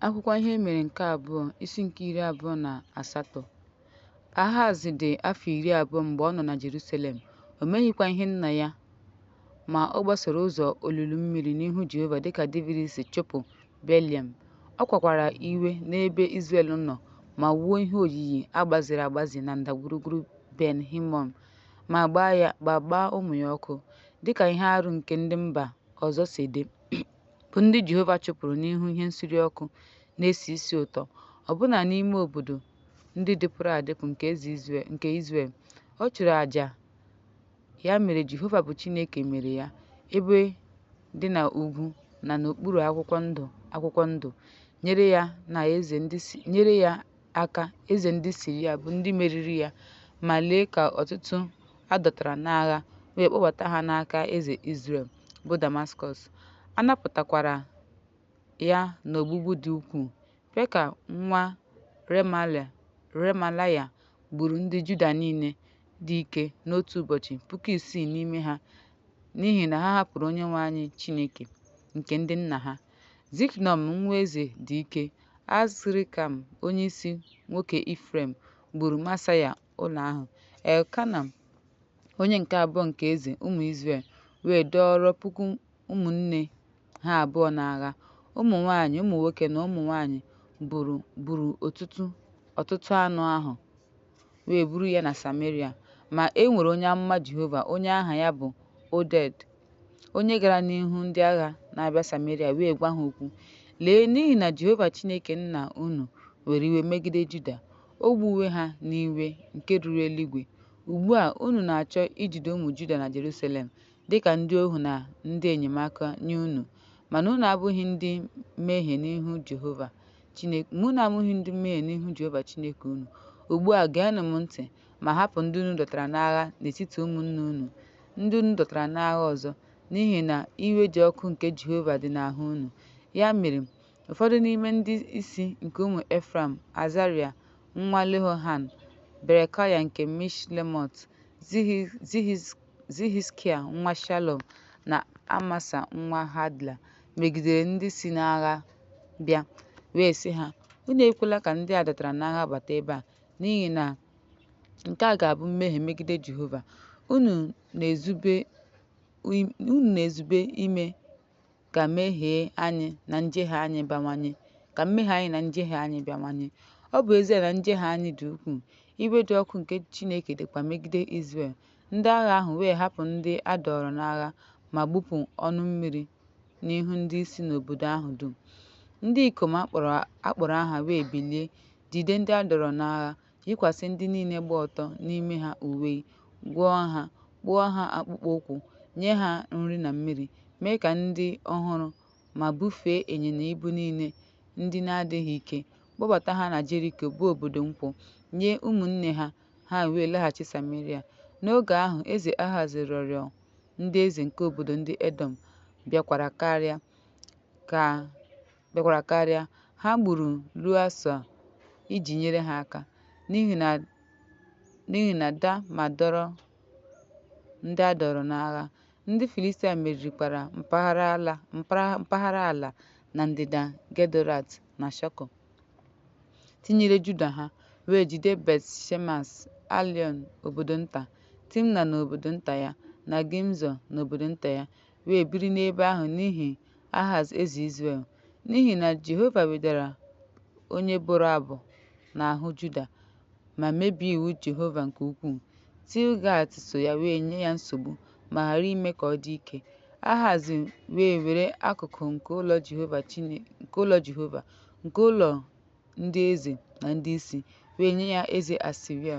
Akwụkwọ Ihe Mere nke Abụọ, isi nke iri abụọ na asatọ Ahaz dị afọ iri abụọ mgbe ọ nọ na Jerusalem, o meghịkwa ihe nna ya, ma ọ gbasoro ụzọ olulu mmiri n'ihu Jehova dịka Devid si chụpụ Beliam. Ọ kwakwara iwe n'ebe Izrel nọ ma wuo ihe oyiyi a gbaziri agbazi na ndagwurugwu Ben Hinọm ma gbaa ụmụ ya ọkụ, dịka ihe arụ nke ndị mba ọzọ si dị. bụ ndị Jehova chụpụrụ n'ihu ihe nsure ọkụ na-esi isi ụtọ, ọbụna n'ime obodo ndị dịpụrụ adịpụ nke Izrel. Ọ chụrụ aja, ya mere Jehova bụ Chineke mere ya ebe dị n'ugwu na n'okpuru akwụkwọ ndụ, nyere ya na eze ndị si nyere ya aka eze ndị Siria bụ ndị meriri ya, ma lee ka ọtụtụ a dọtara n'agha wee kpọbata ha n'aka eze Izrel, bụ Damaskọs. A napụtakwara ya n'ogbugbu dị ukwuu. Peka nwa Remalaya gburu ndị Juda niile dị ike n'otu ụbọchị, puku isii n'ime ha, n'ihi na ha hapụrụ Onyenwe anyị Chineke nke ndị nna ha. Ziknọm nwa eze dị ike, Azrikam onyeisi nwoke Ifrem gburu Masaya ụlọ ahụ, Elkana onye nke abụọ nke eze ụmụ Izrel wee dọọrọ puku ụmụnne ha abụọ n'agha. Ụmụ nwaanyị, ụmụ nwoke na ụmụ nwaanyị gburu ọtụtụ anụ ahụ. wee buru ya na Sameria. Ma, e nwere onye amụma Jehova onye aha ya bụ Oded, onye gara n'ihu ndị agha na-abịa Sameria wee gwa ha okwu, Lee, n'ihi na Jehova Chineke nna unu were iwe megide Juda, o gbuwe ha n'iwe nke ruru eluigwe. Ugbu a, unu na-achọ ijide ụmụ Juda na Jeruselem dị ka ndị ohu na ndị enyemaka nye unu, mana unu abụghị ndị mmehie n'ihu Jehova. Chineke, mana unu abụghị ndị mmehie n'ihu Jehova Chineke unu. Ugbu a, geenụ m ntị, ma hapụ ndị unu dọtara n'agha n'etiti ụmụnne unu, ndị unu dọtara n'agha ọzọ, n'ihi na iwe dị ọkụ nke Jehova dị n'ahụ unu. Ya mere, ụfọdụ n'ime ndị isi nke ụmụ Efraim, Azaria nwa Lehohan, Berekaya nke Mishlemot, Zihizkia nwa Shalom na Amasa nwa Hadla, megidere ndị si n'agha. bịa, wee sị ha, Unu ekwela ka ndị a dọtara n'agha bata ebe a, n'ihi na nke a ga-abụ mmehie megide Jehova. Unu na-ezube ime ka mmehie anyị na njehie anyị bawanye, ka mmehie anyị na njehie anyị bawanye. Ọ bụ ezie na njehie anyị dị ukwuu, iwe dị ọkụ nke Chineke dịkwa megide Izrel Ndị agha ahụ wee hapụ ndị a dọọrọ n'agha ma gbupụ ọnụ mmiri n'ihu ndị isi n'obodo ahụ dum. Ndị ikom a kpọrọ aha wee bilie, jide ndị a dọọrọ n'agha, yikwasị ndị niile gba ọtọ n'ime ha uwe, gwọọ ha, kpụọ ha akpụkpọ ụkwụ, nye ha nri na mmiri, mee ka ndị ọhụrụ, ma bufee ịnyịnya ibu niile ndị na-adịghị ike, kpọbata ha na Jeriko, bụ obodo nkwụ, nye ụmụnne ha ha wee laghachi Sameria. N'oge ahụ, eze Ahaz rịọrọ ndị eze nke obodo ndị Edọm bịakwara karịa ha gburu ruo asaa iji nyere ha aka n'ihi na da ma dọrọ ndị a dọrọ n'agha ndị Filistia meririkwara mpaghara ala na ndịda Gedorat na Shoko. tinyere Juda ha, wee jide Bet-shemesh, Aịalọn obodo nta, Timna na obodo nta ya, na Gimzọ na obodo nta ya, wee biri n'ebe ahụ n'ihi Ahaz eze Izrel. N'ihi na Jehova wedara onye bụrụ abụ n'ahụ Juda, ma mebie iwu Jehova nke ukwuu. Tilgat so ya wee nye ya nsogbu ma ghara ime ka ọ dị ike. Ahaz wee were akụkụ nke ụlọ Jehova, nke ụlọ ndị eze na ndị isi, wee nye ya eze Asiria,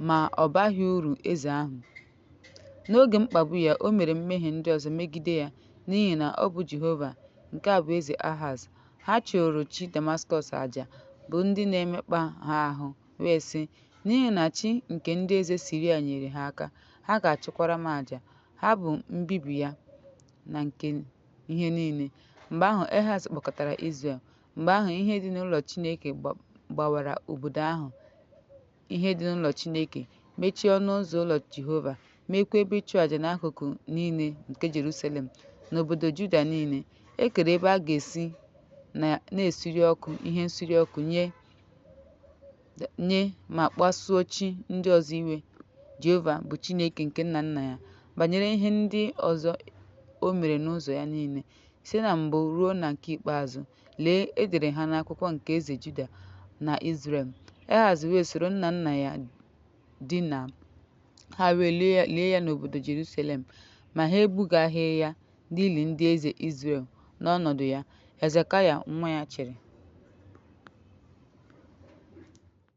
ma ọ baghị uru eze ahụ. N'oge mkpagbu ya, o mere mmehie ndị ọzọ megide ya n'ihi na ọ bụ Jehova, nke a bụ eze Ahaz, Ha chụụrụ chi Damaskọs aja, bụ ndị na-emekpa ha ahụ, wee sị, N'ihi na chi nke ndị eze Siria nyeere ha aka, ha ga-achụkwara m aja. Ha bụ mbibi ya na nke ihe niile. Mgbe ahụ, Ahaz kpọkọtara Izrel. Mgbe ahụ, ihe dị n'ụlọ Chineke gbawara obodo ahụ ihe dị n'ụlọ Chineke, mechie ọnụ ụzọ ụlọ Jehova, meekwa ebe ịchụ aja n'akụkụ niile nke Jerusalem na obodo Juda niile. E kere ebe a ga-esi na-esuri ọkụ ihe nsuri ọkụ nye ma kpasuo chi ndị ọzọ iwe. Jehova bụ Chineke nke nna nna ya. Banyere ihe ndị ọzọ o mere n'ụzọ ya niile, site na mbụ ruo na nke ikpeazụ, Lee, e dere ha n'akwụkwọ nke eze Juda na Izrel. Ahaz wee soro nna nna ya dina, ha wee lie ya n'obodo Jerusalem, ma ha ebugaghị ya n'ili ndị eze Izrel. N'ọnọdụ ya, Hezekaya nwa ya chịrị.